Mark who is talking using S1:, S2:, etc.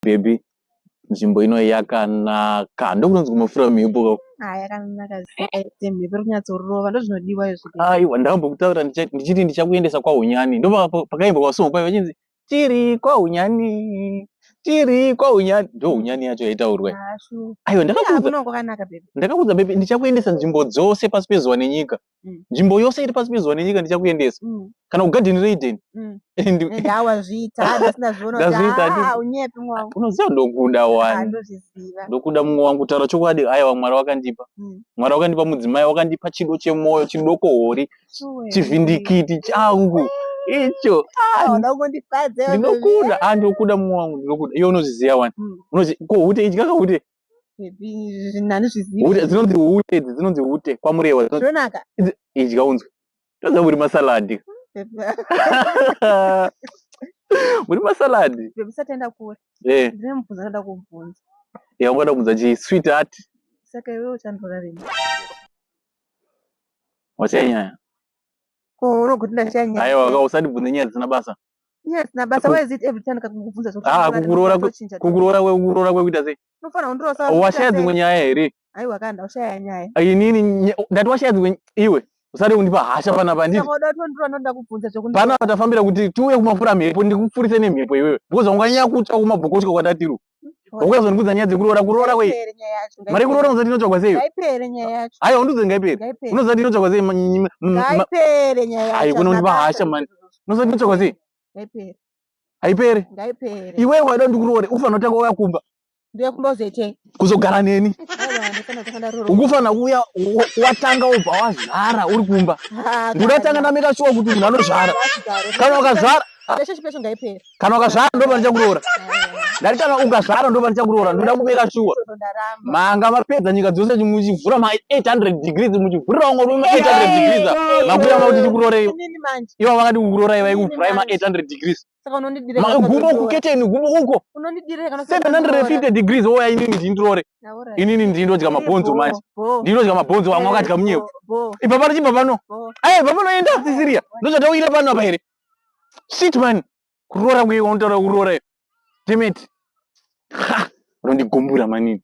S1: baby nzvimbo ino yakanaka ndokunonzi kumafura mhepo ka ah, yakanaka
S2: mhepo iri kunyatsorova ndozvinodiwa izvo aiwa ndakambokutaura
S1: ndichiti ndichakuendesa kwahunyani ndo pakaimba kwasongo kwaiva chinzi tiri kwahunyani tiri kwahunyani ndo hunyani yacho yaitaurwa ah, aiwa ndakakuudza bebi ndichakuendesa nzvimbo dzose pasi pezuva nenyika mm. nzvimbo yose iri pasi pezuva nenyika ndichakuendesa mm. kana kugadheni reidheni mm. unoziva ndokuda wani ndokuda mumwe wangu taura chokwadi aiwa mwari wakandipa mwari wakandipa mudzimai wakandipa chido chemwoyo chidoko hori chivhindikiti changu icho ah, ndinokuda ah, ndokuda mumwe wangu ndinokuda iyo unozviziva wani unozi ko hute idyaka hute hanizvizivi dzinonzi hute idzi dzinonzi hute kwamurewa zvonaka idya unzwe toziva muri masaladi muri masaladi usataenda kure eh. ndine mubvunza ndoda kubvunza ya ungoda kubvunza chii sweet heart saka iwe
S2: uchandora rini
S1: wachanyaya ko
S2: unokuti ndachanyaya aiwa ka usandibvunze nyaya
S1: dzisina basa Yes, na basa why is
S2: it every time kakungubvunza zvekuti Ah, unofarira kukuroora kuti kwe- uchinja tu- kukuroora kwe- kukuroora
S1: kwekuita sei unofanira kundirosa washaya wachita
S2: sei? dzimwe nyaya
S1: here Aiwa kanda
S2: ushaya nyaya. inini nya- ndati
S1: washaya dzimwe iwe usade kundipa hasha panapa handiti Saka uda kuti ndiro anoda kubvunza zvekuti panapa tafambira kuti tiuye kumafura mhepo ndikufurise nemhepo iwewe because wanganyanya kutya kumabhokotyo kwatatiru ukazondikudza nyaya dzekuroora kuroora kwei mari kuroora unoziva tinotsvagwa sei haiwa undiudze ngaipere unoziva tinotsvagwa sei haiwa unondipa hasha mani unoziva tinotsvagwa sei haipere iwe waida ndikuroore ufanira kutanga uya kumba kuzogara neni ukufanira kuuya watanga ubva wazvara uri kumba ndinoda tanga ndameka shuwa kuti munhu anozvara kana ukazvara kana ukazvara ndopano ndichakuroora ndati kana ukazvara ndopano ndichakuroora ndoda kubeka shuwa manga mapedza nyika dzose muchivhura ma 800 degrees muchivhurirawo ngori ma 800 degrees makuya makuti tikuroorei ivo vakati kukurorai vaikuvhurai ma 800 degrees gumbo kuketeni gumbo uko 750 degrees oya inini ndindiroore inini ndindodya mabhonzo manje ndinodya mabhonzo vamwe vakadya munyepo ipapano chibva pano aye papanoenda sisiriya ndochatauyira pano apa here shit man kuroora kuye unotaura kuroora iyo demet unondigumbura manini